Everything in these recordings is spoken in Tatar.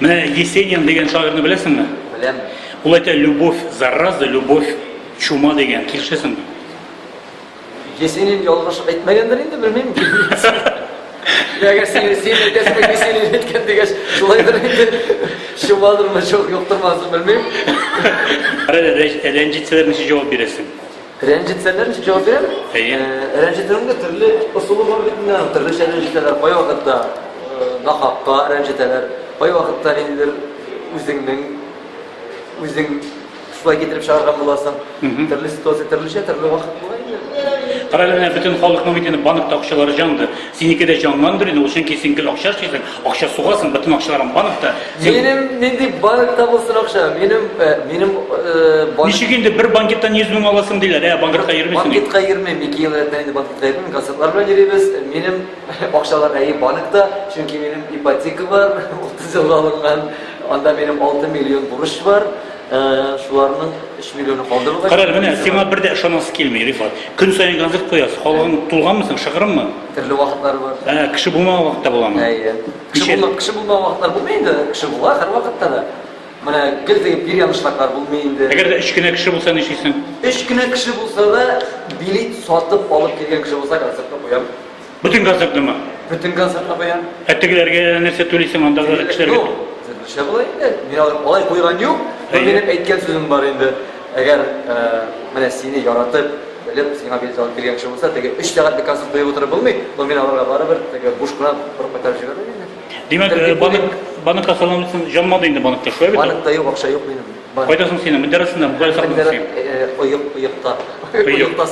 Менә Есенин дигән шагыйрьне беләсеңме? Беләм. Ул әйтә, любовь зараза, любовь чума дигән. Килешәсеңме? Есенин ялгыш әйтмәгәндер инде, белмим. Ягәр син син әйтәсең, Есенин әйткән дигәч, шулайдыр инде. Чумадырмы, чук юктырмасын, белмим. Рәнҗетсәләр ничек җавап бирәсең? Рәнҗетсәләр ничек җавап бирәм? Әйе. Рәнҗетүнең дә төрле ысулы бар бит инде, төрлечә рәнҗетәләр. Кай вакытта нахакка рәнҗетәләр, кай вакытта ниндидер үзеңнең үзең шулай китереп чыгарган буласың. Төрле ситуация, төрлечә, төрле вакыт була инде. Кара әле, бөтен халыкның бит инде банк акчалары җанды. Синеке дә җанландыр инде ул, чөнки син гел акча эшлисең, акча сугасың, бөтен акчаларың банкта. Син... Минем нинди банкта булсын акча? Минем, э, минем, э, банк... Ничек инде бер банкеттан 100 мең аласың диләр, ә банкетка йөрмисең. Банкетка йөрмим, ике ел элек инде банкетка йөрмим, газетлар белән йөрибез. Минем акчалар әйе банкта, чөнки минем ипотека бар, 30 елга алынган, анда минем 6 миллион бурыч бар. Шуларның 3 миллионы калды бугай. Кара, менә сиңа бер дә ышанасы килми, Рифат. Көн саен концерт куясың, халыгың тулганмы соң, шыгрыммы? Төрле вакытлары бар. Ә, кеше булмаган вакытта буламы? Әйе. Кеше булмаган, кеше булмаган вакытлар булмый инде, кеше була һәр вакытта да. Менә гел дигән бир янышлыклар булмый инде. Әгәр дә 3 кенә кеше булса нишлисең? 3 кенә кеше булса да, билет сатып алып килгән кеше булса концертны куям. Бөтен концертныма. Бөтен концертна баян. Ә тегеләргә нәрсә түлисең андагы кешеләргә? Төрлечә була инде. Мин алай куйган юк. Минем әйткән сүзем бар инде. Әгәр э, менә сине яратып, белеп, сиңа билет алып килгән кеше булса, теге 3 сәгатьлек концерт куеп утырып булмый, но мин аларга барыбер теге буш кына борып кайтарып җибәрмим инде. Димәк, э, банк банкка салам өчен җанмады инде банкта, шулай бит? Банкта юк, акча юк минем. Кайда соң синең мендәр астында бу кайда сакладың син? Оек, оекта. Оекта.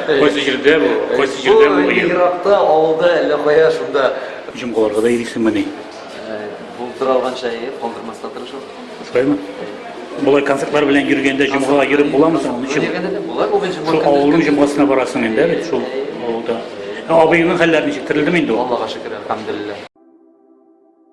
Кайсы җирдә бу? Кайсы җирдә бу оек? Еракта, авылда, әллә кая шунда. Җомгаларга да йөрисеңмени? Булып тора алганча, әйе, калдырмаска тырышам. Шулаймы? Болай концертлар белән йөргәндә җомгага йөреп буламы соң? Ничек? Була бу җомга. Шул авылның җомгасына барасың инде бит шул авылда. Абыеңның хәлләре ничек? Терелдеме инде ул? Аллага шөкер, әлхәмдулиллаһ.